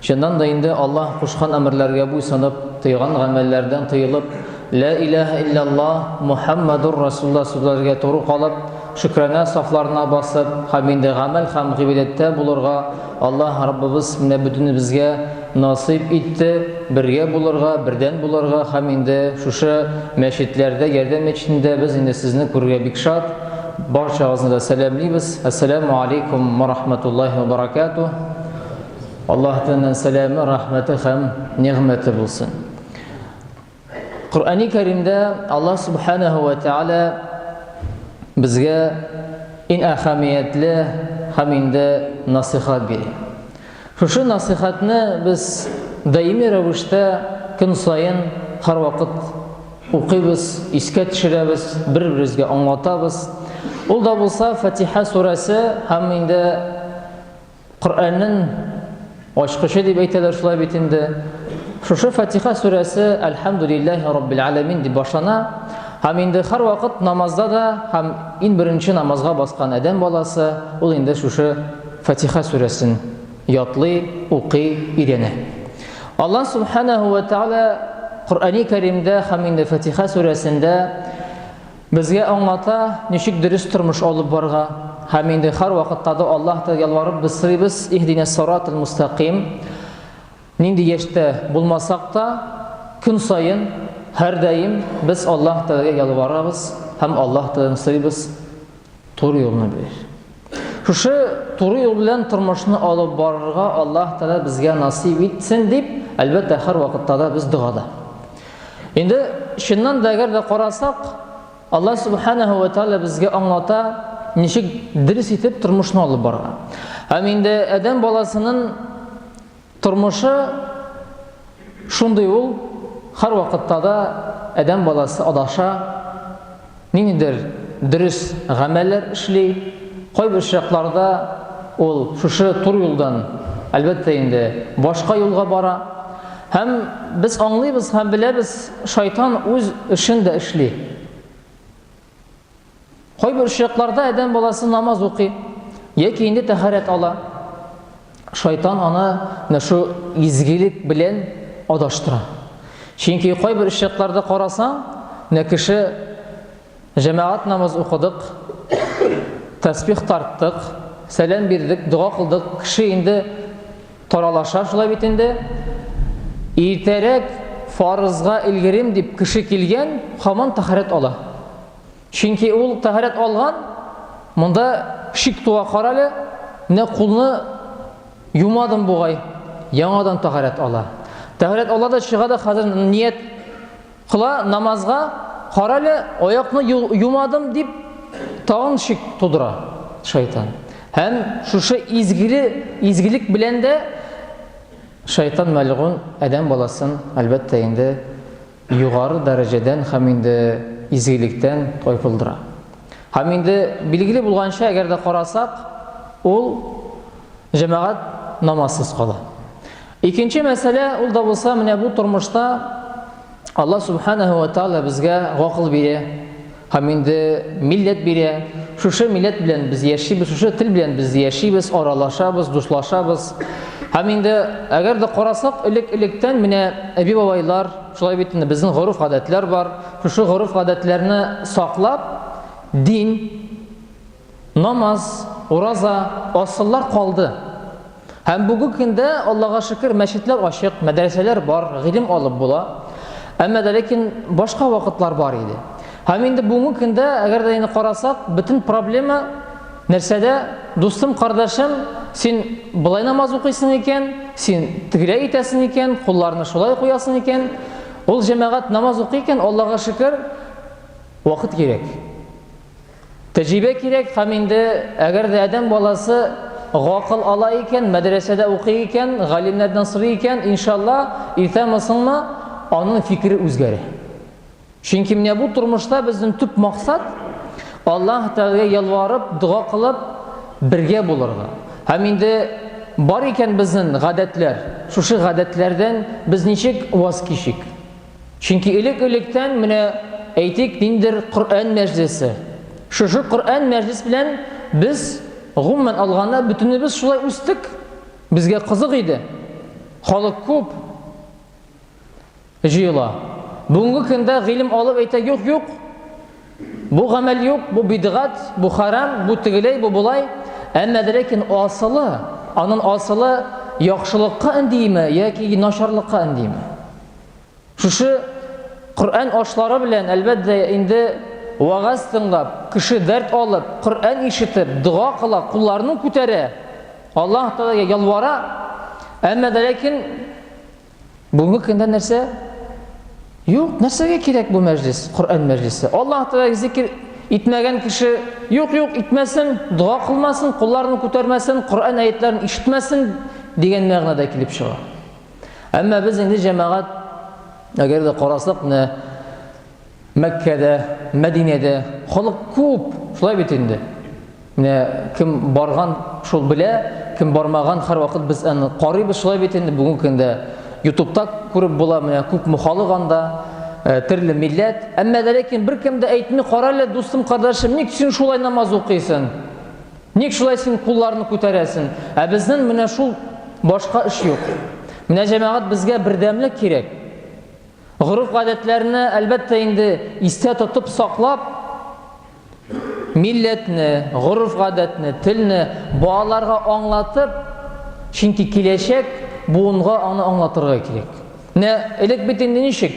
Чыннан да инде Аллаһ кушкан әмерләргә буйсынып, тыйган гамәлләрдән тыелып, Лә иләһә илляллаһ, Мухәммәдур Расулуллаһ сүзләргә туры калып, шөкранә сафларына басып һәм инде гамәл һәм гыйбадәттә булырга Аллаһ Раббыбыз менә бөтенебезгә насыйп итте, бергә булырга, бердән булырга һәм инде шушы мәчетләрдә, Ярдәм мәчетендә без инде сезне күрергә бик шат, барчагызны да сәламлибез, Әссәләмү алейкум ва рахмәтуллаһи ва баракәтүһ. Аллаһ Тәгаләнең сәламе, рәхмәте һәм нигъмәте булсын. Коръәни Кәримдә Аллаһ Субханаһу ва Тәгалә безгә иң әһәмиятле һәм инде насихат бирә. Шушы насихатны без даими рәвештә көн саен һәрвакыт укыйбыз, искә төшерәбез, бер-беребезгә аңлатабыз. Ул да булса Фатиха сүрәсе һәм инде Коръәннең ачкычы дип әйтәләр шулай бит инде. Шушы Фатиха сүрәсе Әлхәмдүлилләһи раббил аләмин дип башлана. Һәм инде һәр вакыт намазда да һәм иң беренче намазга баскан адәм баласы ул инде шушы Фатиха сүрәсен ятлый, укый, өйрәнә. Алла субханаһу ва тааля Коръәни Кәримдә һәм инде Фатиха сүрәсендә Безгә аңлата, ничек дөрес тормыш алып барырга. Һәм инде һәрвакытта да Аллаһ та ялварып без сорыйбыз, Иһдинәс сыратал мустәкыйм. Нинди яшьтә булмасак та, көн саен, һәрдаим без Аллаһ Тәгаләгә ялварабыз һәм Аллаһ Тәгаләдән сорыйбыз. Туры юлны бир. Шушы туры юл белән тормышны алып барырга Аллаһ Тәгалә безгә насыйп итсен дип, әлбәттә, һәр вакытта да без догада. Инде чыннан да әгәр дә карасак, Аллаһ Субханаһу ва Тәгалә безгә аңлата, ничек дөрес итеп тормышны алып барырга. Һәм инде адәм баласының Тормышы шундый ул, һәрвакытта да адәм баласы адаша, ниндидер дөрес гамәлләр эшли, кайбер чакларда ул шушы туры юлдан, әлбәттә инде, башка юлга бара. Һәм без аңлыйбыз һәм беләбез, шайтан үз эшен дә эшли. Кайбер очракларда адәм баласы намаз укый, яки инде тәһарәт ала. Шайтан аны менә шу изгелек белән адаштыра. Чөнки кайбер очракларда карасаң, менә кеше җәмәгать намаз укыдык, тәсбих тарттык, сәлам бирдек, дога кылдык, кеше инде Таралаша шулай бит инде. Иртәрәк фарызга элгерим дип кеше килгән, хаман тәһарәт ала. Чөнки ул тәһарәт алган, монда шик туа карале, менә кулны юмадым бугай, яңадан тәһарәт ала. Тәһарәт ала да чыга да хәзер ният Кыла намазга, карале, аякны юмадым дип, тагын шик тудыра шайтан. Һәм шушы изгеле, изгелек белән дә шайтан мәлгун адәм баласын, әлбәттә инде, югары дәрәҗәдән һәм инде изгелектән тайпылдыра. Һәм инде билгеле булганча, әгәр дә карасак, ул җәмәгать намазсыз кала. Икенче мәсьәлә ул да булса менә бу тормышта Алла Субханаһу ва Тааля безгә гакыл бирә, һәм инде милләт бирә. Шушы милләт белән без яшибез, шушы тел белән без яшибез, аралашабыз, дуслашабыз. Һәм инде әгәр дә карасак, элек-электән менә әби-бабайлар шулай бит инде безнең гореф-гадәтләр бар. Шушы гореф-гадәтләрне саклап, дин Намаз, ураза, асыллар калды. Һәм бүгенге көндә, Аллага шөкер, мәчетләр ачык, мәдрәсәләр бар, гыйлем алып була. Әмма дә ләкин башка вакытлар бар иде. Һәм инде бүгенге көндә, әгәр дә инде карасак, бөтен проблема нәрсәдә? Дустым, кардәшем, син болай намаз укыйсың икән, син тегеләй итәсең икән, кулларны шулай куясың икән, ул җәмәгать намаз укый икән, Аллага шөкер, вакыт кирәк. Тәҗрибә кирәк һәм инде әгәр дә адәм баласы гакыл ала икән, мәдрәсәдә укый икән, галимнәрдән сорый икән, иншалла, иртәме соңмы аның фикере үзгәрә. Чөнки менә бу тормышта безнең төп максат Аллаһ Тәгаләгә ялварып, дога кылып бергә булырга. Һәм инде бар икән безнең гадәтләр, шушы гадәтләрдән без ничек ваз кичик? Чөнки элек-электән менә әйтик ниндер Коръән мәҗлесе. Шушы Коръән мәҗлис белән без гомумән алганда бөтенебез шулай үстек. Безгә кызык иде. Халык күп җыела. Бүгенге көндә гыйлем алып әйтә юк юк. Бу гамәл юк, бу бидгат, бу харам, бу тегеләй, бу болай. Әмма ләкин асылы, анын асылы яхшылыкка индиме яки начарлыкка индиме? Шушы Коръән ашлары белән, әлбәттә, инде вагаз тыңлап, кеше дәрт алып, Коръән ишетеп, дога кыла, кулларын күтәрә, Аллаһ Тәгаләгә ялвара. Әмма дә ләкин бүгенге көндә нәрсә? Юк, нәрсәгә кирәк бу мәҗлис, Коръән мәҗлисе? Аллаһ Тәгаләгә зикр итмәгән кеше, юк, юк, итмәсен, дога кылмасын, кулларын күтәрмәсен, Коръән аятларын ишетмәсен дигән мәгънәдә килеп чыга. Әмма без инде җәмәгать, әгәр дә карасак, менә Мәккәдә, Мәдинәдә халык күп, шулай бит инде. Менә кем барган, шул белә, кем бармаган, һәрвакыт без аны карыйбыз, шулай бит инде. Бүгенге көндә YouTube-та күреп була, менә күп мухалык анда, э, төрле милләт. Әмма ләкин беркем дә әйтми, карале, дустым, кардәшем, ник син шулай намаз укыйсың? Ник шулай син кулларны күтәрәсен? Ә безнен менә шул башка эш юк. Менә җәмәгать безгә бердәмлек кирәк. Горыф гадәтләрне әлбәттә инде истә тотып саклап, милләтне, горыф гадәтне, телне балаларга аңлатып, чөнки киләчәк буынга аны аңлатырга кирәк. Менә элек бит инде ничек?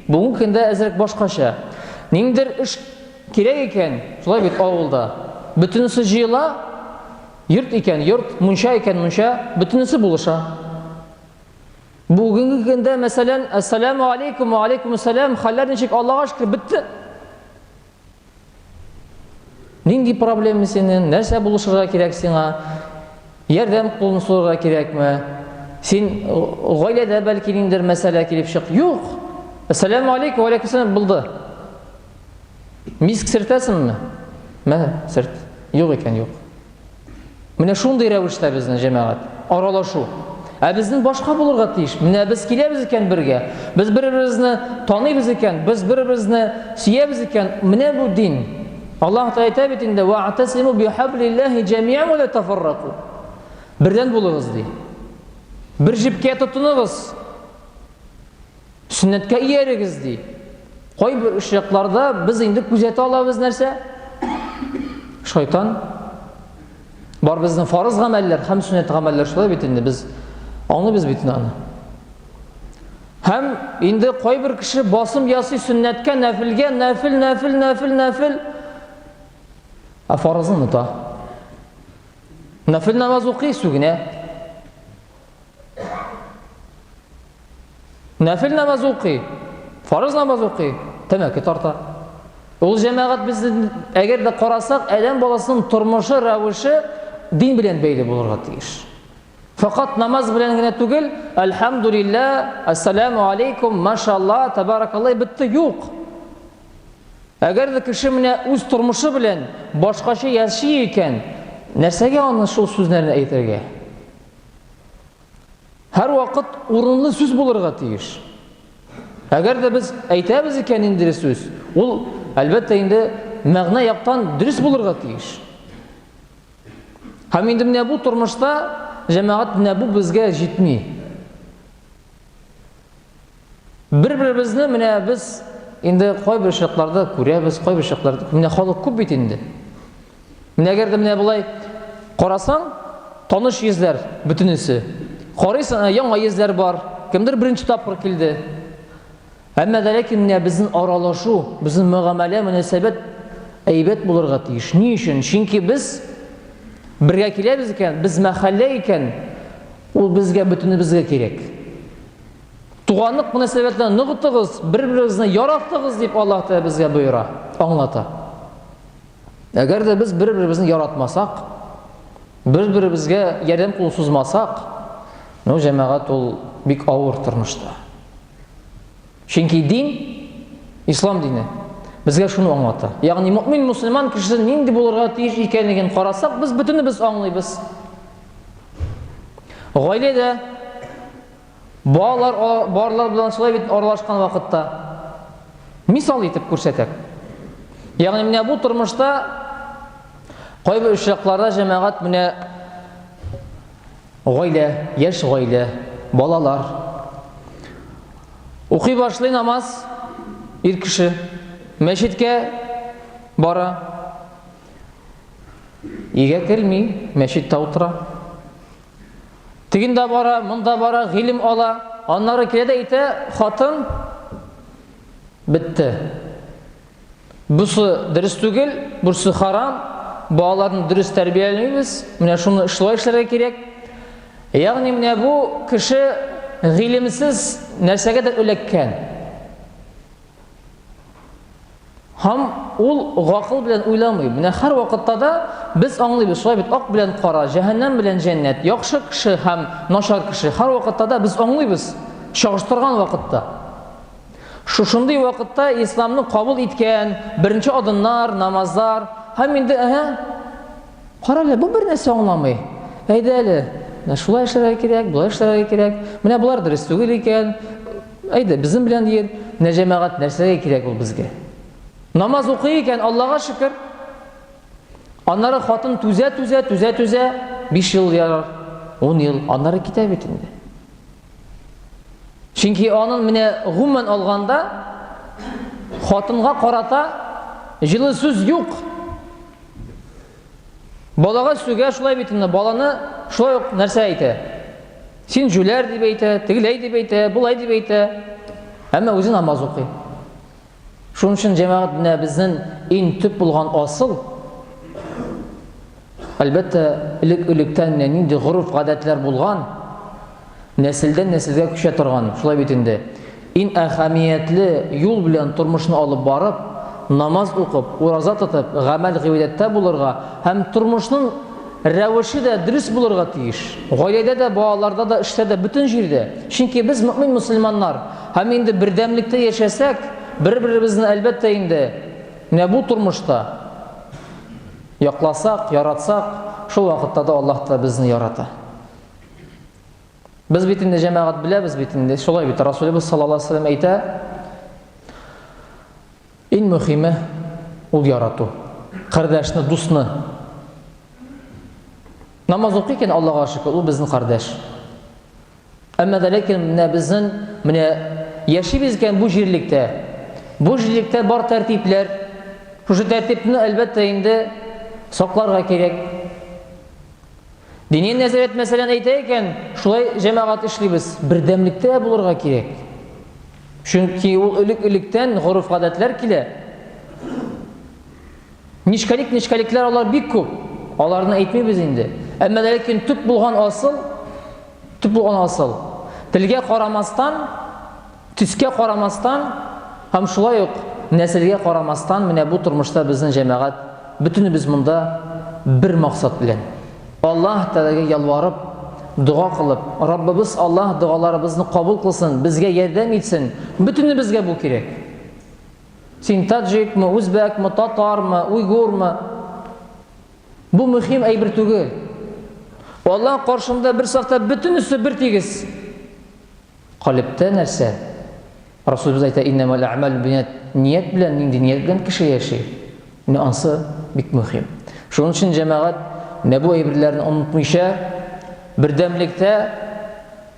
Бүгенге көндә әзрәк башкача. Ниндер эш Кирәк икән, шулай бит авылда. Бөтенесе җыела, йорт икән, йорт, мунча икән, мунча, бөтенесе булыша. Бүгенге көндә, мәсәлән, Әссәләмү алейкум, вә алейкумуссәләм, хәлләр ничек, Аллага шөкер, бетте. Нинди проблема синең, нәрсә булышырга кирәк сиңа, ярдәм кулын сорарга кирәкме, син гаиләдә бәлки ниндидер мәсьәлә килеп чык. Юк. Әссәләмү алейкум, вә алейкумуссәләм булды. Миск сертәсеңме? Мә, серт. Юк икән, юк. Менә шундый рәвештә безнең җәмәгать, аралашу. Ә безнең башка булырга тиеш. Менә без киләбез икән бергә, без бер-беребезне таныйбыз икән, без бер-беребезне сөябез икән. Менә бу дин. Аллаһ Тәгалә әйтә бит инде: "Ва атасиму бихаблиллахи җамиан ва ла тафарраку". Бердән булыгыз ди. Бер җепкә тотыныгыз. Сөннәткә иярегез, ди. Кайбер очракларда без инде күзәтә алабыз нәрсә? Шайтан. Бар безнең фарыз гамәлләр һәм сөннәт гамәлләр шулай бит инде без аңлыйбыз бит аны. Һәм инде кайбер кеше басым ясый сөннәткә, нәфилгә, нәфил, нәфил, нәфил, нәфил. Ә фарызны оныта. Нәфил намаз укый, сүгенә. Нәфил намаз укый, фарыз намаз укый, тәмәке тарта. Ул җәмәгать безне әгәр дә карасак, адәм баласының тормышы, рәвеше дин белән бәйле булырга тиеш. Фақат намаз белән генә түгел, альхамдулилла, ассаламу алейкум, машалла, табаракалла битте юк. Әгәр дә кеше менә үз тормышы белән башкача яши икән, нәрсәгә аны шул сүзләрне әйтергә? Һәр вакыт урынлы сүз булырга тиеш. Әгәр дә без әйтәбез икән инде сүз, ул әлбәттә инде мәгънә яктан дөрес булырга тиеш. Һәм инде менә бу тормышта җәмәгать менә бу безгә җитми. Бер-беребезне менә без инде кайбер очракларда күрәбез, кайбер очракларда менә халык күп бит инде. Менә әгәр дә менә болай карасаң, таныш йөзләр бөтенесе. Карыйсың, ә яңа йөзләр бар. Кемдер беренче тапкыр килде. Әмма дә ләкин менә безнең аралашу, безнең мөгамәлә, мөнәсәбәт әйбәт булырга тиеш. Ни өчен? Чөнки без бергә киләбез икән, без мәхәллә икән, ул безгә бөтенебезгә кирәк. Туганлык мөнәсәбәтләрен ныгытыгыз, бер-берегезне яратыгыз дип Аллаһ Тәгалә безгә боера, аңлата. Әгәр дә без бер-беребезне яратмасак, бер-беребезгә ярдәм кул сузмасак, ну җәмәгать ул бик авыр тормышта. Чөнки дин, ислам дине безгә шуны аңлата. Ягъни мөмин мусульман кеше нинди булырга тиеш икәнлеген карасак, без бөтенебез аңлыйбыз. Гаиләдә балалар барлар белән шулай бит аралашкан вакытта мисал итеп күрсәтәк. Ягъни менә бу тормышта кайбер очракларда җәмәгать менә гаилә, яшь гаилә, балалар укый башлый намаз ир кеше мәчеткә бара Өйгә керми, мәчеттә утыра. Тегендә бара, монда бара, гыйлем ала. Аннары килә дә әйтә, хатын бетте. Бусы дөрес түгел, бурсы харам, балаларны дөрес тәрбияләмибез, менә шуны шулай эшләргә кирәк. Ягъни менә бу кеше гыйлемсез нәрсәгә дә эләккән. Һәм ул гакыл белән уйламый. Менә һәр вакытта да без аңлыйбыз, шулай бит, ак белән кара, җәһәннәм белән җәннәт, яхшы кеше һәм начар кеше. Һәр вакытта да без аңлыйбыз, чагыштырган вакытта. Шушындый вакытта исламны кабул иткән беренче адымнар, намазлар һәм инде әһә Карале, бу бер нәрсә аңламый. Әйдә әле, менә шулай эшләргә кирәк, болай эшләргә кирәк. Менә болар дөрес түгел икән. Әйдә, безнең белән йөр. Менә җәмәгать нәрсәгә кирәк ул безгә? Намаз укый икән, Аллага шөкер. Аннары хатын түзә, түзә, түзә, түзә, 5 ел ярар, 10 ел, аннары китә бит инде. Чөнки аның менә гомумән алганда хатынга карата җылы сүз юк. Балага сүгә шулай бит инде, баланы шулай ук нәрсә әйтә? Син җүләр дип әйтә, тегеләй дип әйтә, болай дип әйтә. Әмма үзе намаз укый. Шуның өчен җәмәгать менә безнең иң төп булган асыл әлбәттә элек-электән менә нинди гореф-гадәтләр булган, нәселдән нәселгә күчә торган, шулай бит инде. Ин әһәмиятле юл белән тормышны алып барып, намаз укып, ураза тотып, гамәл гыйбадәттә булырга һәм тормышның рәвеше дә дөрес булырга тиеш. Гаиләдә дә, балаларда да, эштә дә, бөтен җирдә. Чөнки без мөмин мусульманнар. Һәм инде бердәмлектә яшәсәк, бер-беребезне, әлбәттә инде, менә бу тормышта якласак, яратсак, шул вакытта да Аллаһ та безне ярата. Без бит инде, җәмәгать, беләбез бит инде, шулай бит, Расулебез саллаллаһу алейһи ва сәлләм әйтә, Иң мөхиме ул ярату. Кардәшне, дусны. Намаз укый икән, Аллага шөкер, ул безнең кардәш. Әмма дә ләкин менә безнең менә яшибез икән бу җирлектә. Бу җирлектә бар тәртипләр. Шушы тәртипне, әлбәттә, инде сакларга кирәк. Дини нәзарәт мәсәлән әйтә икән, шулай җәмәгать эшлибез. Бердәмлектә булырга кирәк. Чөнки ул элек-электән гореф-гадәтләр килә. Нечкәлик нечкәлекләр алар бик күп. Аларны әйтмибез инде. Әмма ләкин төп булган асыл, төп булган асыл. Телгә карамастан, төскә карамастан һәм шулай ук нәселгә карамастан менә бу тормышта безнең җәмәгать бөтенебез монда бер максат белән. Аллаһ Тәгаләгә ялварып, дога кылып, Раббыбыз Аллаһ догаларыбызны кабул кылсын, безгә ярдәм итсен. Бөтенебезгә бу кирәк. Син таджикмы, үзбәкмы, татармы, уйгурмы? Бу мөһим әйбер түгел. Аллаһ каршында бер сафта бөтенесе бер тигез. Калептә нәрсә? Расулыбыз әйтә, иннәмәл әмәл бинят ният белән, нинди ният белән кеше яши. Менә ансы бик мөһим. Шуның өчен җәмәгать менә бу әйберләрне онытмыйча бердәмлектә